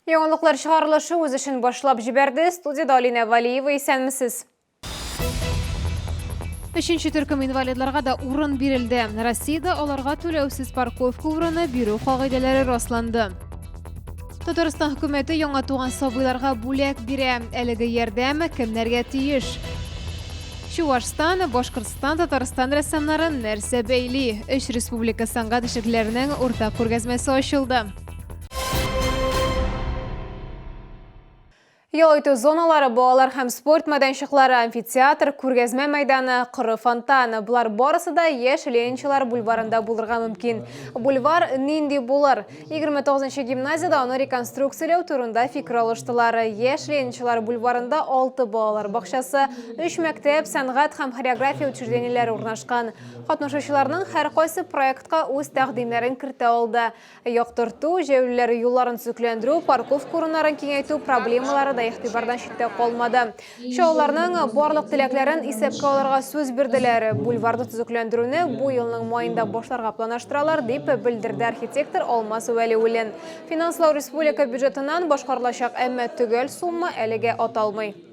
Яңалыклар чыгарылышы үз эшен башлап җибәрде. Студияда Алина Валиева исәнмесез. Өченче төркем инвалидларга да урын бирелде. Россиядә аларга түләүсез парковка урыны бирү кагыйдәләре расланды. Татарстан хөкүмәте яңа туган сабыйларга бүләк бирә. Әлеге ярдәм кемнәргә тиеш? Чувашстан, Башкортстан, Татарстан рәссамнарын нәрсә бәйли? Өч республика сәнгать эшлекләренең уртак күргәзмәсе ачылды. Ял итү зоналары, балалар һәм спорт мәйданчыклары, амфитеатр, күргәзмә мәйданы, коры фонтан, болар барысы да яшь Ленинчылар бульварында булырга мөмкин. Бульвар нинди булыр? 29 нчы гимназиядә аны реконструкцияләү турында фикер алыштылар. Яшь Ленинчылар бульварында алты балалар бакчасы, өч мәктәп, сәнгать һәм хореография учреждениеләре урнашкан. Катнашучыларның һәркайсы проектка үз тәкъдимнәрен кертә алды. Яктырту, җәяүлеләр юлларын төзекләндерү, парковка урыннарын киңәйтү проблемалары да игътибардан читтә калмады. Чаллыларның барлык теләкләрен исәпкә алырга сүз бирделәр. Бульварны төзекләндерүне бу елның маенда башларга планаштыралар, дип белдерде архитектор Алмаз Вәлиуллин. Финанслау республика бюджетыннан башкарылачак, әмма төгәл сумма әлегә аталмый.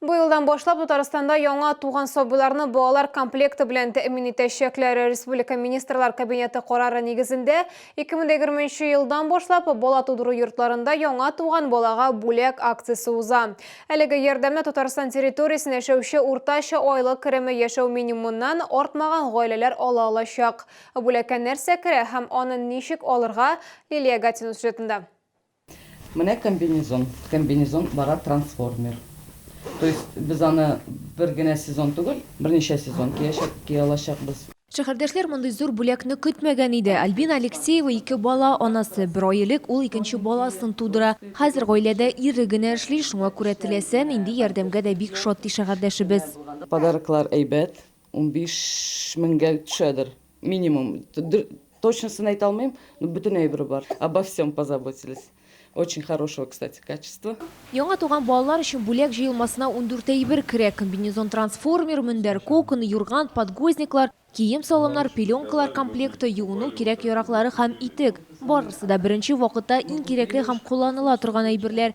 Быелдан башлап Татарстанда яңа туган сабыйларны балалар комплекты белән тәэмин итәчәкләр. Республика Министрлар Кабинеты карары нигезендә 2020 елдан башлап бала тудыру йортларында яңа туган балага бүләк акциясе уза. Әлеге ярдәмне Татарстан территориясен яшәүче уртача айлык кереме яшәү минимумыннан артмаган гаиләләр ала алачак. Бүләккә нәрсә керә һәм аны ничек алырга, Лилия Гатина сюжетында. Менә комбинезон, комбинезон бара трансформер. То есть без аны бер генә сезон түгел, берничә сезон киячәк, кия алачакбыз. Шәһәрдәшләр мондый зур бүләкне көтмәгән иде. Альбина Алексеева, ике бала анасы. Бер ай элек ул икенче баласын тудыра. Хәзер гаиләдә ире генә эшли, шуңа күрә теләсә нинди ярдәмгә дә бик шат, ди шәһәрдәшебез. Подароклар әйбәт, Унбиш меңгә төшәдер, минимум. Точносын әйтә алмыйм, но бөтен әйбере бар. Обо всем позаботились. Очень хорошего, кстати, качества. Яңа туган балалар өчен бүләк җыелмасына ундүрт әйбер керә, комбинезон-трансформер, мендәр, кокон, юрган, подгузниклар, кием-салымнар, пеленкалар комплекты, юыну кирәк-яраклары һәм итек. Барысы да беренче вакытта иң кирәкле һәм кулланыла торган әйберләр.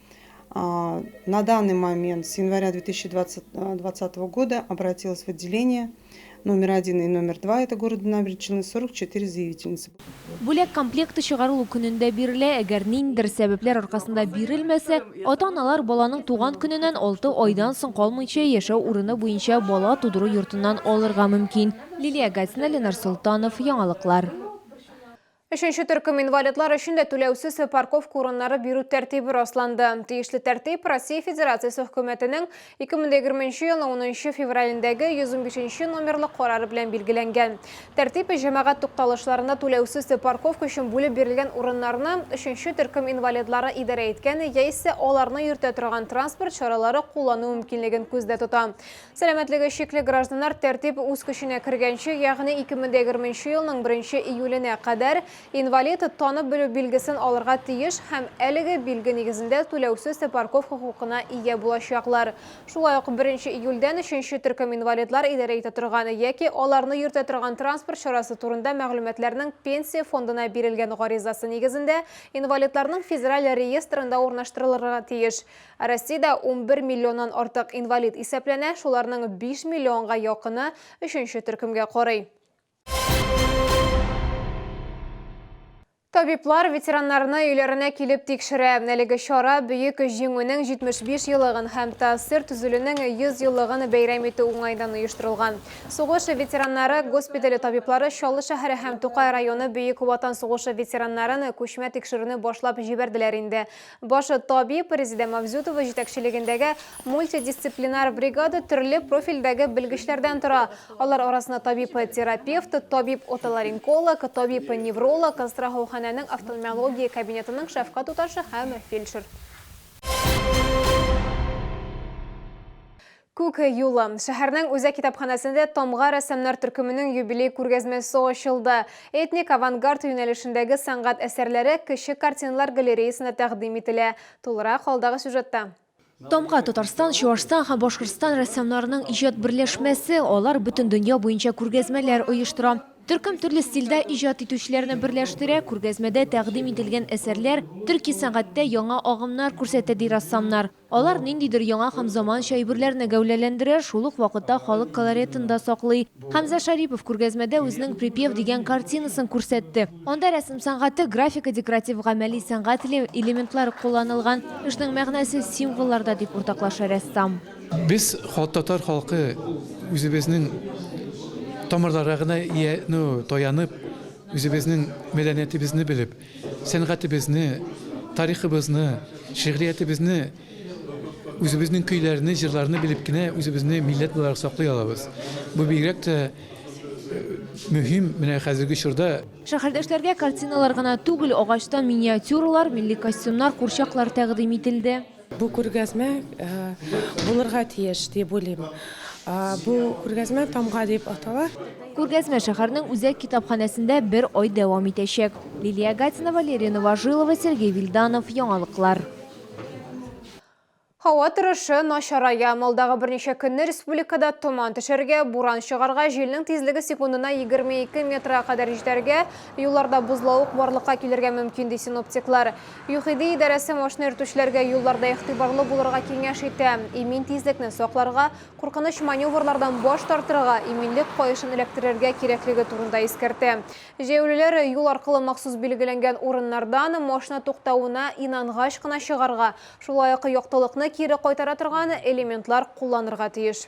А, на данный момент, с января 2020 э, года, обратилась в отделение номер один и номер два, это города Набережной, 44 заявительницы. Бүләк комплекты чыгарылу көнендә бирелә, әгәр ниндидер сәбәпләр аркасында бирелмәсә, ата-аналар баланың туган көненнән 6 айдан соң калмыйча яшәү урыны буенча бала тудыру йортыннан алырга мөмкин. Лилия Гатина, Ленар Султанов, Яңалыклар. Өченче төркем инвалидлар өчен дә түләүсез парковка урыннары бирү тәртибе расланды. Тиешле тәртип Россия Федерациясе Хөкүмәтенең 2020 елның 10 февралендәге 115 номерлы карары белән билгеләнгән. Тәртип җәмәгать тукталышларында түләүсез парковка өчен бүлеп бирелгән урыннарны өченче төркем инвалидлары идарә иткән яисә аларны йөртә торган транспорт чаралары куллану мөмкинлеген күздә тота. Сәламәтлеге чикле гражданнар тәртип үз көченә кергәнче, ягъни 2020 нче елның 1 нче июленә кадәр инвалид танып белү билгесен алырга тиеш һәм әлеге билге нигезендә түләүсез тпарков хокукына ия булачаклар. Шулай ук 1 нче июльдән өченче төркем инвалидлар идарә итә торган яки аларны йөртә торган транспорт чарасы турында мәгълүматларның Пенсия фондына бирелгән гаризасы нигезендә инвалидларның федераль реестрында урнаштырылырга тиеш. Россиядә унбер миллионнан артык инвалид исәпләнә, шуларның биш миллионга якыны өченче төркемгә карый. Табиблар ветераннарны өйләренә килеп тикшерә. Әлеге чара Бөек Җиңүнең 75 еллыгын һәм ТАССР төзелүнең 100 еллыгын бәйрәм итү уңаеннан оештырылган. Сугыш ветераннары госпитале табиблары Чаллы шәһәре һәм Тукай районы Бөек Ватан сугышы ветераннарын күчмә тикшерүне башлап җибәрделәр инде. Башы табиб Резидә Мавзютова җитәкчелегендәге мультидисциплинар бригада төрле профильдәге белгечләрдән тора. Алар арасында табиб-терапевт, табиб-отоларинколог, табиб-невролог, страхауханәнең офтальмология кабинетының шәфкать туташы һәм фельдшер. Күк юлы. Шәһәрнең үзәк китапханәсендә Тамга рәссамнар төркеменең юбилей күргәзмәсе ачылды. Этник авангард юнәлешендәге сәнгать әсәрләре Кече картиналар галереясында тәкъдим ителә. Тулырак алдагы сюжетта. Тамга, Татарстан, Чуашстан һәм Башкортстан рәссамнарының иҗат берләшмәсе. Алар бөтен дөнья буенча күргәзмәләр оештыра. Төркем төрле стильдә иҗат итүчеләрне берләштерә. Күргәзмәдә тәкъдим ителгән әсәрләр төрки сәнгатьтә яңа агымнар күрсәтә, ди рәссамнар. Алар ниндидер яңа һәм заманча әйберләрне гәүләләндерә, шул ук вакытта халык колоретын да саклый. Хәмзә Шарипов күргәзмәдә үзенең Припев дигән картинасын күрсәтте. Анда рәсем сәнгате, графика, декоратив гамәли сәнгать элементлары кулланылган. Эшнең мәгънәсе символларда, дип уртаклаша рәссам. Без, татар халкы, үзебезнең тамырларга гына таянып, үзебезнең мәдәниятебезне белеп, Сәнгатебезне, тарихыбызны, шигъриятебезне, үзебезнең көйләрне, җырларны белеп кенә үзебезне милләт буларак саклый алабыз. Бу бигрәк тә мөһим менә хәзерге чорда. Шәһәрдәшләргә картиналар гына түгел, агачтан миниатюралар, милли костюмнар, курчаклар тәкъдим ителде. Бу күргәзмә э, булырга тиеш дип уйлыйм. Э, бу күргәзмә тамга дип атала. Күргәзмә шәһәрнең үзәк китапханәсендә бер ай дәвам итәчәк. Лилия Гатина, Валерия Новожилова, Сергей Вильданов, Яңалыклар. Һава торышы начарая. Малдагы берничә көнне республикада томан төшәргә, буран чыгарга, җилнең тизлеге секундына 22 метрга кадәр җитәргә, юлларда бозлавык барлыкка килергә мөмкин, ди синоптиклар. ЮХИДИ идарәсе машина йөртүчеләргә юлларда игътибарлы булырга киңәш итә, имин тизлекне сакларга, куркыныч маневрлардан баш тартырга, иминлек каешын эләктерергә кирәклеге турында искәртә. Җәяүлеләр юл аркылы махсус билгеләнгән урыннардан машина туктавына инангач кына чыгарга, шулай ук яктылыкны кире кайтара торган элементлар кулланырга тиеш.